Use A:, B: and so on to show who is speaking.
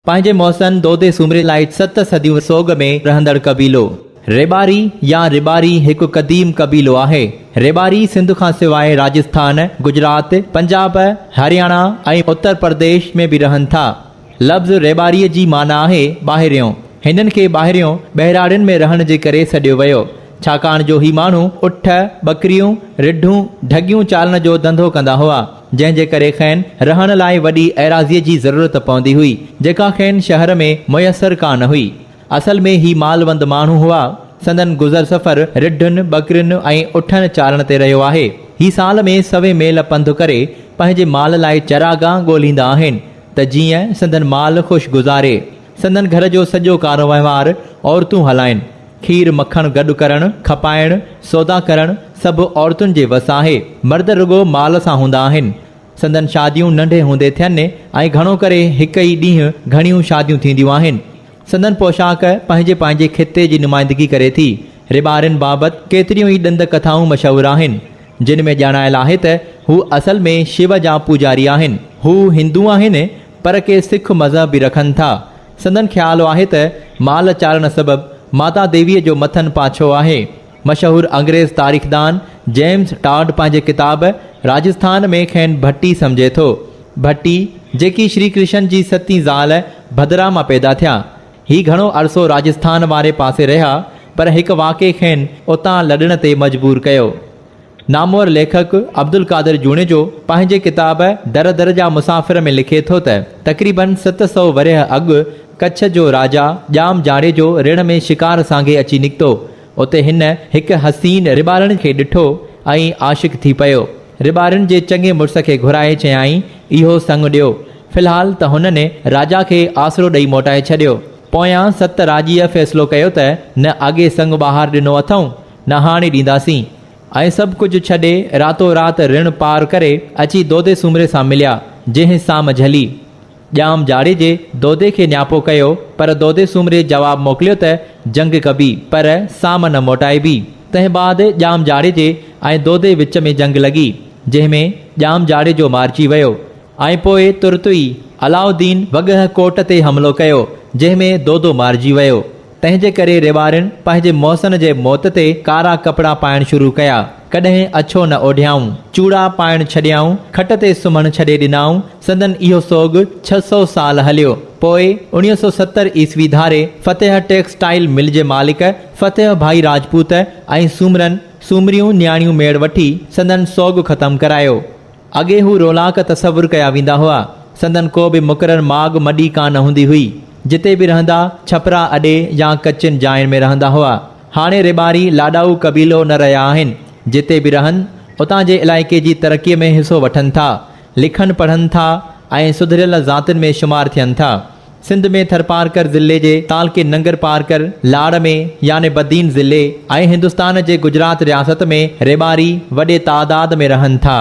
A: پنهنجي محسن دودي سومري لاء ست صديون سوڳ ۾ رهندڙ قبيلو. ريٻاري يا رباري هڪ قديم قبيلو آهي. ريٻاري سنڌ کان سواء راجسٿان، گجرات، پنجاب، هرياڻا ۽ اتر پرديش ۾ به رهن ٿا. لفظ ريٻاري جي معنيٰ آهي ٻاهريون. هنن کي ٻاهريون، ٻهراڙين ۾ رهڻ جي ڪري سڏيو ويو. ڇاڪاڻ جو هي ماڻهو اٺ، ٻڪريون، رڍون، ڍڳيون چارڻ جو ڌنڌو ڪندا هئا. جنهن جي ڪري کين رهڻ لاء وڏي ايراضيء جي ضرورت پوندي هئي، جيڪا کين شهر ۾ ميسر ڪا نه هئي. اصل ۾ هي مالوند ماڻهو هئا. سندن گذر سفر رڍن، ٻڪرين ۽ اٺن چارڻ تي رهيو آهي. هي سال ۾ سوين ميل پنڌ ڪري پنهنجي مال لاء چراگاهه ڳولهيندا آهن ته جيئن سندن مال خوش گذاري. سندن گهر جو سڄو ڪاروهنوار عورتون هلائين. کير مکڻ گڏ ڪرڻ، کپائڻ، سودا ڪرڻ سڀ عورتن جي وس آهي. مرد رڳو مال سان هوندا آهن. سندن شاديون ننڍي هوندي ٿين ۽ گهڻو ڪري هڪ ئي ڏينهن گهڻيون شاديون ٿينديون آهن. سندن پوشاڪ پنهنجي پنهنجي خطي جي نمائندگي ڪري ٿي. رٻارين بابت ڪيتريون ئي ڏند ڪٿائون مشهور آهن. جن ۾ ڄاڻايل آهي ته هو اصل ۾ شو جا پوڄاري آهن. هو هندو آهن. پر ڪي سک مذهب به رکن ٿا. سندن خيال آهي ته مال چارڻ سبب ماتا ديويء جو مٿن پاڇو آهي. مشهور انگريز تاريخدان جيمز ٽاڊ پنهنجي ڪتاب راجسٿان ۾ کين ڀٽي سمجهي ٿو. ڀٽي، جيڪي شري ڪرشن جي ستين زال ڀدرا مان پيدا ٿيا. هي گهڻو عرصو راجسٿان واري پاسي رهيا، پر هڪ واقعي کين اتان لڏڻ تي مجبور ڪيو. نامور ليکڪ عبدالقادر جوڻيجو پنهنجي ڪتاب در در جا مسافر ۾ لکي ٿو ته تقريباً ست سؤ ورهيه اڳ ڪڇ جو راجا ڄام جاڙيجو رڻ ۾ شڪار سانگي اچي نڪتو. اتي هن هڪ حسين رٻارڻ کي ڏٺو ۽ عاشق ٿي پيو. رٻارڻ جي چڱي مڙس کي گهرائي چيائين، اهو سڱ ڏيو. في الحال ته هنن راجا کي آسرو ڏئي موٽائي ڇڏيو. پويان ست راڄيء فيصلو ڪيو ته نه اڳي سڱ ٻهار ڏنو اٿئون، نهاڻي ڏينداسين ۽ سڀ ڪجهه ڇڏي راتو رات رڻ پار ڪري اچي دودي سومري سان مليا، جنهن سام جهلي. ڄام جاڙيجي دودي کي نياپو ڪيو پر دودي سومري جواب موڪليو ته جنگ ڪبي پر سام نه موٽائبي. تنهن بعد ڄام جاڙيجي ۽ دودي وچ ۾ جنگ لڳي، جنهن ۾ ڄام جاڙيجو مارجي ويو ۽ پوء ترت ئي علاؤالدين وڳهه ڪوٽ تي حملو ڪيو، جنهن ۾ دودو مارجي ويو. تنهن جي ڪري ريوارين پنهنجي محسن جي موت تي ڪارا ڪپڙا پائڻ شروع ڪيا. ڪڏهن اڇو نه اوڍيائون. چوڙا پائڻ ڇڏيائون. کٽ تي سمهڻ ڇڏي ڏنائون. سندن اهو سوڳ ڇهه سؤ سال هليو. پوء اوڻيهه سؤ ستر عيسوي ڌاري فتح ٽيڪسٽائيل مل جي مالڪ فتح ڀائي راجپوت ۽ سومرن، سومريون نياڻيون ميڙ وٺي سندن سوڳ ختم ڪرايو. اڳي هو رولاڪ تصور ڪيا ويندا هئا. سندن ڪو به مقرر ماڳ مڏي ڪا نه هوندي هئي. جتي به رهندا، ڇپرا اڏي يا ڪچين جاين ۾ رهندا هئا. هاڻي ريٻاري لاڏائو قبيلو نه رهيا آهن. جتي به رهن، اتان جي علائقي جي ترقيء ۾ حصو وٺن ٿا. لکن پڙهن ٿا ۽ سڌريل ذاتين ۾ شمار ٿين ٿا. سنڌ ۾ ٿرپارڪر ضلعي جي تعلقي ننگرپارڪر، لاڙ، ۾ يعني بدين ضلعي ۽ هندستان جي گجرات رياست ۾ ريٻاري وڏي تعداد ۾ رهن ٿا.